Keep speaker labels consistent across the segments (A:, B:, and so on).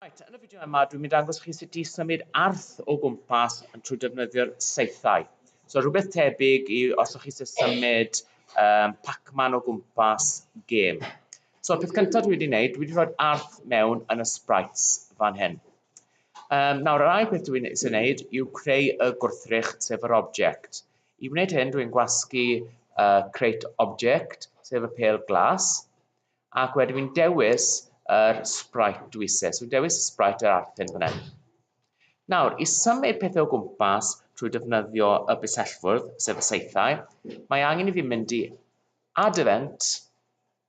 A: Right, yn y fideo yma dwi'n mynd dangos chi sut i symud arth o gwmpas yn trwy defnyddio'r saethau. So rhywbeth tebyg i os o'ch chi eisiau symud um, Pac-Man o gwmpas gêm. So peth cyntaf dwi wedi wneud, dwi wedi rhoi arth mewn yn y sprites fan hyn. Um, nawr yr ail peth dwi'n eisiau wneud yw creu y gwrthrych sef yr object. I wneud hyn dwi'n gwasgu uh, create object sef y pel glas. Ac wedyn fi'n dewis yr sprite dwi eisiau. So fi'n dewis y sprite yr arthyn fan hyn. Nawr, i symud pethau o gwmpas trwy defnyddio y busellfwrdd, sef y saethau, mae angen i fi mynd i add event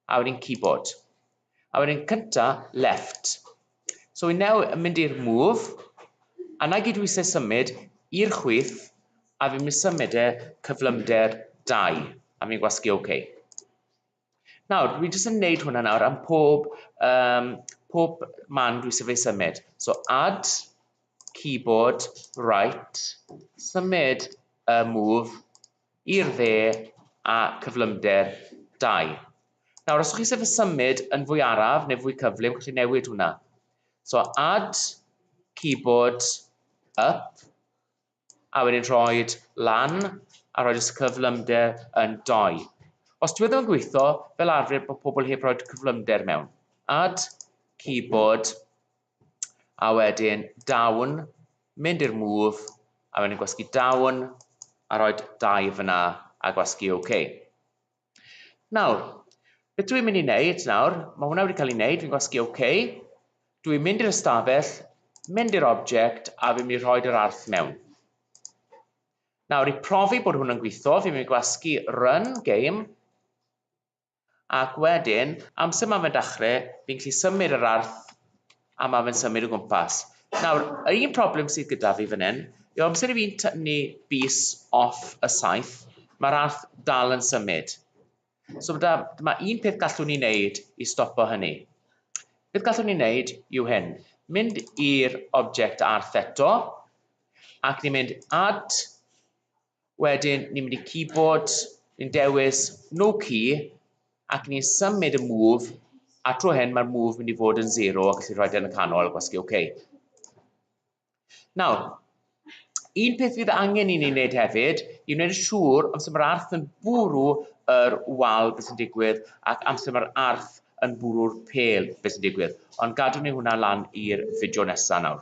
A: a wedyn keyboard. A wedyn cynta left. So i neu yn mynd i'r move, a na gyd dwi eisiau symud i'r chwyth a fi'n mynd symud e cyflymder 2 a fi'n gwasgu OK. Nawr, dwi jyst yn neud hwnna nawr am pob, um, pob man dwi sef ei symud. So add keyboard right, symud y move i'r dde a cyflymder 2. Nawr, os ydych chi sef y symud yn fwy araf neu fwy cyflym, chi'n newid hwnna. So add keyboard up, a wedyn rhoi lan a rhoi cyflymder yn 2. Os dwi e ddim yn gweithio, fel arfer bod pobl heb rhoi cyflymder mewn. Add, keyboard, a wedyn down, mynd i'r move, a wedyn gwasgu down, a rhoi 2 fyna, a gwasgu OK. Nawr, beth dw i'n mynd i wneud nawr, mae hwnna wedi cael ei wneud, fi'n gwasgu OK, dw i'n mynd i'r ystafell, mynd i'r object a fi'n mynd i rhoi yr arth mewn. Nawr, i profi bod hwn yn gweithio, fi'n mynd i gwasgu run game, ac wedyn, amser mae'n mynd achre, fi'n gallu symud yr arth A mae fe'n symud o gwmpas. Nawr, yr un problem sydd gyda fi fan hyn, yw amser i fi'n tynnu bys off y saith, mae'r arth dal yn symud. So da, mae un peth gallwn ni wneud i stopo hynny. Beth gallwn ni wneud yw hyn. Mynd i'r object arth eto, ac ni'n mynd add Wedyn ni'n mynd i keyboard, ni'n dewis no key ac ni'n symud y move a tro hyn mae'r move mynd i fod yn 0 ac allu rhoed e yn y canol a gwasgu OK. Nawr, un peth fydd angen i ni wneud hefyd i wneud yn siŵr amser mae'r arth yn bwrw yr wal beth sy'n digwydd ac amser mae'r arth yn bwrw'r pêl beth sy'n digwydd. Ond gadw ni hwnna lan i'r fideo nesaf nawr.